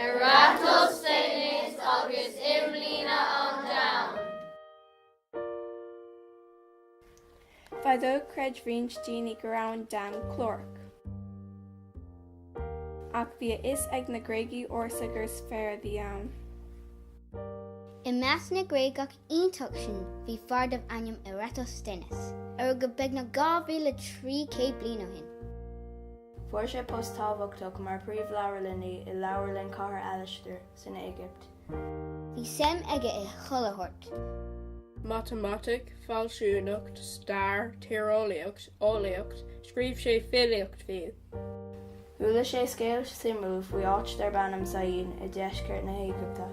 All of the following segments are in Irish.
Eratosthenes agus imlíne an domhain. Fadó chreid roinnt daoine go raibh an domhan clárach. Ach bhí a fhios ag na Gréagaigh ársa gur sféar a bhí ann. I measc na Gréagach iontach sin bhí fear darb ainm Eratosthenes, a rugadh beagnach 2,300 bliain ó shin. Fuair sé post tábhachtach mar phríomhleabharlannaí i Leabharlann Chathair Alastair san Éigipt. Bhí suim aige i chuile ábhar matamaitic, fealsúnacht, stair, tíreolaíocht, eolaíocht, scríobh sé filíocht fiú. Chuala sé scéal suimiúil faoi áit darb ainm Syene i deisceart na hÉigipte.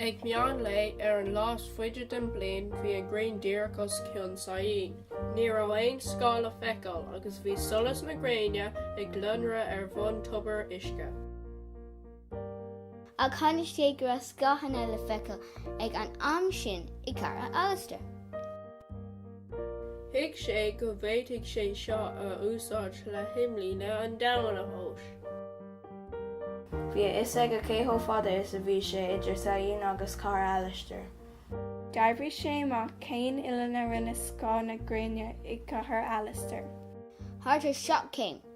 Ag meán lae ar an lá is faide den bhliain bhí an ghrian díreach os cionn Syene. Ní raibh aon scáth le feiceáil agus bhí solas na gréine ag lonnradh ar bhun tobar uisce. Ach tháinig sé go raibh scáthanna le feiceáil ag an am sin i gCathair Alastair. Thuig sé go bhféadfadh sé seo a úsáid le himlíne an domhain a thomhas. Bhí a fhios aige cé chomh fada is a bhí sé idir Syene agus Cathair Alastair. D'oibrigh sé amach cén uillinn a rinne scáth na gréine i gCathair Alastair. Thart ar 7 céim.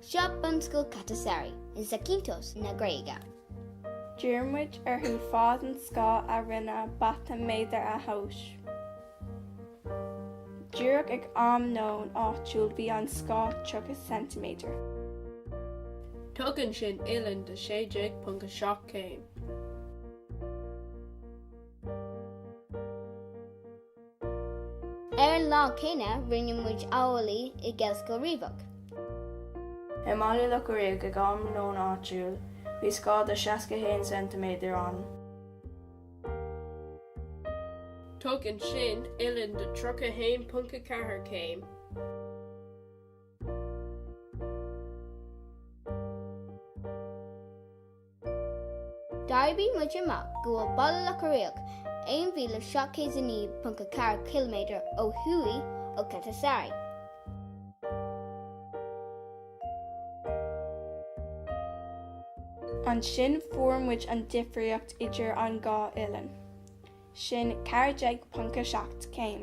Seo bunscoil Katastari in Zakynthos na Gréige. D'iarr muid orthu fad an scáth a rinne bata méadar a thomhas. Díreach ag am nóin áitiúil bhí an scáth 30 ceintiméadar. Tugann sin uillinn de 16.7 céim. Ar an lá céanna rinne muid amhlaidh i nGaelscoil Riabhach. I mBaile Locha Riach ag am nóin áitiúil bhí scáth de 61 ceintiméadar ann. Tugann sin uillinn de 31.4 céim. D'oibrigh muid amach go bhfuil Baile Locha Riach 1,709.4 km ó thuaidh ó Katastari. Ansin fuair muid an difríocht idir an dá uillinn, sin 14.7 céim.